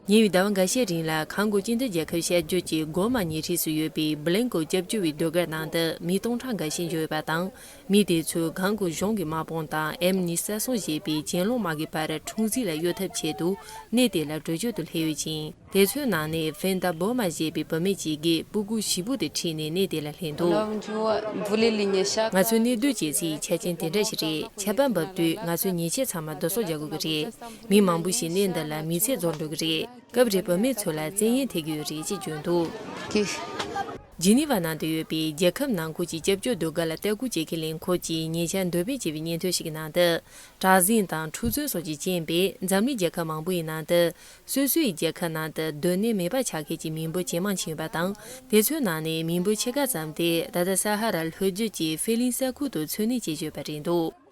ཉེ་བའི་ཟླ་བ་འགའ་ཤས་རིང་ལ་གང་དགོས་ཅི་འདོད་རྒྱལ་ཁབ་ཤར་རྒྱུད་ཀྱི་སྒོ་མ་ཉེ་འཁྲིས་སུ་ཡོད་པའི Blanco སྐྱབས་བཅོལ་བའི་ཟློས་གར་ནང་དུ་མི་སྟོང་ཕྲག་འགའ་ཤས་འབྱོར་ཡོད་པ་དང། མི་དེ་ཚོས་གང་དགོས་གཞུང་གི་དམག་དཔུང་དང་ཨེམ་ནི་སད་སོགས་བཞེས་པའི་གྱེན་ལོག་དམག་གི་བར་འཁྲུག་འཛིང་ལ་གཡོལ་ཐབས་ཆེད་དུ་གནས་དེ་ལ་བྲོས་བྱོལ་དུ་སླེབས་ཡོད་ཅིང། དེ་ཚོའི་ནང་ནས Fenda Boma བཞེས་པའི་བུད་མེད་ཅིག་གིས་སྤུ་གུ་བཞི་པོ་དེ་ཁྲིད་ནས་གནས་དེ་ལ་སླེབས་འདུག། ང་ཚོའི་གནས་སྡོད་བྱེད་སའི་ཆ་རྐྱེན་དེ་འདྲ་ཞིག་རེད་ཆད་པ་འབབ་དུས་ང་ཚོས་ཉེས་ཆད་ཚང་མ་བསྡུ་གསོག་རྒྱག་དགོས་ཀྱི་རེད། མི་མང་པོ་ཞིག་གནས་འདི་ལ་མི་ཚེ་རྫོགས་འགྲོ་གི་རེད། སྐབས་རེ་བུད་མེད་ཚོ་ལ་བཙན་གཡེམ་ཐེབས་ཀྱི་ཡོད་རེད་ཅེས་བརྗོད་འདུག། ཇི་ནི་ཝ་ནང་དུ་ཡོད་པའི་རྒྱལ་ཁབ་ནང་ཁུལ་གྱི་སྐྱབས་བཅོལ་སྡོད་སྒར་ལ་ལྟ་སྐུལ་བྱེད་མཁན་ལས་འཁུར་གྱིས་ཉེ་ཆར་འདོན་སྤེལ་བྱས་པའི་སྙན་ཐོའི་ཞིག་གི་ནང་དུ། བྲག་གཟིངས་དང་འཁྲུག་རྩོད་སོགས་ཀྱིས་རྐྱེན་པས་འཛམ་གླིང་རྒྱལ་ཁབ་མང་པོ་ཡི་ནང་དུ། སོ་སོའི་རྒྱལ་ཁབ་ནང་དུ་སྡོད་གནས་མེད་པ་ཆགས་མཁན་གྱི་མི་འབོར་ཇེ་མང་ཕྱིན་ཡོད་པ་དང། དེ་ཚོའི་ནང་ནས་མི་འབོར་ཕྱེད་ཀ་ཙམ་དེ་ད་ལྟ་ས་ཧ་ར་ལྷོ་རྒྱུད་ཀྱི་ཧྥེ་ལིན་ས་ཁུལ་དུ་འཚོ་གནས་བྱེད་བཅུག་པ་རེད་འདུག།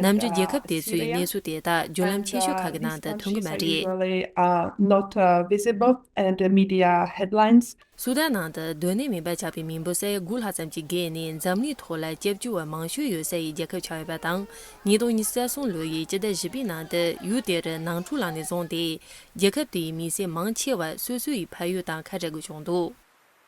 ནམ་རྒྱུན་རྒྱལ་ཁབ་དེ་ཚོའི་གནས་ཚུལ་དེ་དག་བརྒྱུད་ལམ་ཆེ་ཤོས་ཁག་གི་ནང་དུ་ཐོན་གི་མ་རེད། སུ་དཱན་ནང་དུ་སྡོད་གནས་མིན་པ་ཆགས་པའི་མི་འབོར་ས་ཡ་དགུ་ལྷག་ཙམ་གྱི་སྒེར་ནས་འཛམ་གླིང་ཐོག་ལ་སྐྱབས་བཅོལ་བ་མང་ཤོས་ཡོད་ས་ཡི་རྒྱལ་ཁབ་ཆགས་ཡོད་པ་དང་ཉིས་སྟོང་ཉི་ས་གསུམ་ལོ་ཡི་སྤྱི་ཟླ་བཞི་པའི་ནང་དུ་ཡུལ་དེར་ནང་འཁྲུག་ལངས་ནས་བཟུང་སྟེ་རྒྱལ་ཁབ་དེའི་མི་སེར་མང་ཆེ་བ་སོ་སོའི་ཕ་ཡུལ་དང་ཁ་བྲལ་དགོས་བྱུང་འདུག།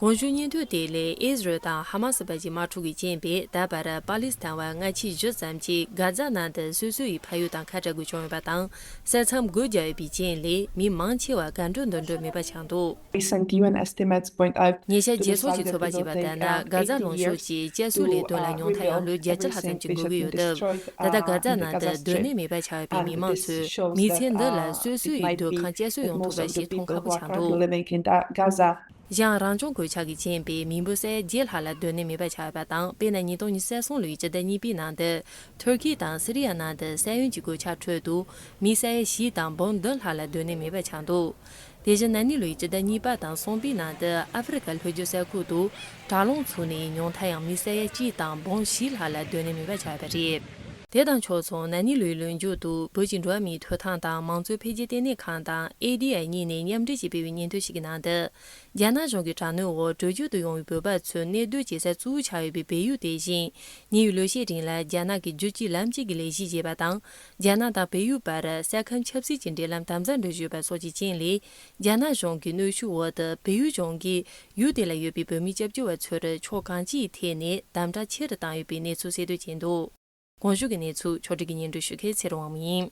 དགོངས་ཞུ་སྙན་ཐོ་དེ་ལས་ཨིས་རལ་དང་ཧ་མ་སི་བར་གྱི་མ་འཁྲུག་གི་རྐྱེན་པས་ད་བར་པ་ལིས་ཐན་བར་སྔ་ཕྱི་བཞི་ཙམ་གྱི་དགག་རྩ་གནང་སྟེ་སོ་སོ་ཡི་ཕ་ཡུལ་དང་ཁ་བྲལ་དགོས་བྱུང་ཡོད་པ་དང་ས་མཚམས་སྒོ་རྒྱག་ཡོད་པའི་རྐྱེན་ལས་མི་མང་ཆེ་བ་དགའ་འགྲོ་འདོད་འགྲོ་མེད་པ་ཆགས་འདུག། ཉེ་ཆར་རྒྱལ་ཚོགས་ཀྱི་ཚོགས་པ་ཞིག་བ་ལྟར་ན་དགག་རྩ་ལོངས་ཤོར་གྱིས་དཔྱད་གསོའི་ལས་དོན་ལ་མྱོང་ཐང་ཡང་ལོ་བརྒྱད་ཅུ་ལྷག་ཙམ་གྱི་འགོར་གྱི་ཡོད་སྟབས་ད་ལྟ་དགག་རྩ་གནང་སྟེ་སྡོད་གནས་མེད་པ་ཆགས་ཡོད་པའི་མི་མང་ཚོས་མི་ཚེ་འདི་ལ་སོ་སོ་ཡི་སྡོད་ཁང་དཔྱད་གསོ་ཡོང་ཐུབ་པ་ཞིག་མཐོང་ཁག་པོ་ཆགས་འདུག། གཞན་རང་བྱུང་གོད་ཆག་གིས་རྐྱེན་པས་མི་འབོར་གསལ་བརྗེ་ལྷག་ལ་སྡོད་གནས་མེད་པ་ཆགས་པ་དང་དཔེར་ན་ཉིས་སྟོང་ཉི་ཤུ་སོང་ལོའི་སྤྱི་ཟླ་གཉིས་པའི་ནང་དུ། ཐུར་ཁེ་དང་སི་རི་ཡ་ནང་དུ་ས་ཡོམ་གྱི་གོད་ཆག་ཁྲོད་དུ། མི་ས་ཡ་བཞི་དང་འབུམ་བདུན་ལྷག་ལ་སྡོད་གནས་མེད་པ་ཆགས་འདུག་དེ་བཞིན་ན་ནིང་ལོའི་སྤྱི་ཟླ་གཉིས་པ་དང་གསུམ་པའི་ནང་དུ་ཨ་ཧྥེ་རི་ཁ་ལྷོ་རྒྱུད་ས་ཁུལ་དུ་དྲག་རླུང་ཚུགས་ནས་ཉུང་མཐའ་ཡང་མི་ས་ཡ་གཅིག་དང་འབུམ་བཞི་ལྷག་ལ་སྡོད་གནས་མེད་པ་ཆགས་པ་རེད། དེ་དང་ཕྱོགས་མཚུངས་ན་ནི་ལོའི་ལོ་མཇུག་ཏུ་བོད་ཀྱི་འགྲོ་བ་མིའི་ཐོས་ཐང་དང་མང་གཙོའི་འཕེལ་རྒྱས་ལྟེ་གནས་ཁང་དང ADI གཉིས་ནས་མཉམ་འབྲེལ་གྱིས་སྤེལ་བའི་སྙན་ཐོའི་ཞིག་གི་ནང་དུ། རྒྱ་ནག་གཞུང་གི་དྲག་གནོན་འོག་བྲོས་བྱོལ་དུ་ཡོང་བའི་བོད་པ་ཚོས་གནས་སྡོད་བྱེད་ས་གཙོ་བོ་ཆགས་ཡོད་པའི་བལ་ཡུལ་དེ་བཞིན་ཉེ་བའི་ལོ་ཤས་རིང་ལ་རྒྱ་ནག་གི་རྒྱུད་གཅིག་ལམ་གཅིག་གི་ལས་གཞི་བྱེད་པ་དང་རྒྱ་ནག་དང་བལ་ཡུལ་བར་ས་ཁམས་ཆབ་སྲིད་ཀྱི་འབྲེལ་ལམ་དམ་ཟབ་འགྲོ་བཞིན་ཡོད་པ་སོགས་ཀྱི་རྐྱེན་ལས། རྒྱ་ནག་གཞུང་གི་གནོད་ཤུགས་འོག་ཏུ་བལ་ཡུལ་ལྗོངས་ཀྱི་ཡུལ་དེ་ལ་ཡོད་པའི་བོད་མི་སྐྱབས་བཅོལ་བ་ཚོར་ཕྱོགས་གང་ཅིའི་ཐད་ནས་དམ་དྲག་ཆེ་རུ་བཏང་ཡོད་པའི་གནས་ཚུལ་གསལ་བཏོད་བྱས་འདུག་གོང་ཞུས་ཀྱི་གནས་ཚུལ་ཕྱོགས་སྒྲིག་གི་སྙན་སྒྲོན་ཞུ་མཁན་ཚེ་རིང་དབང་མོ་ཡིན།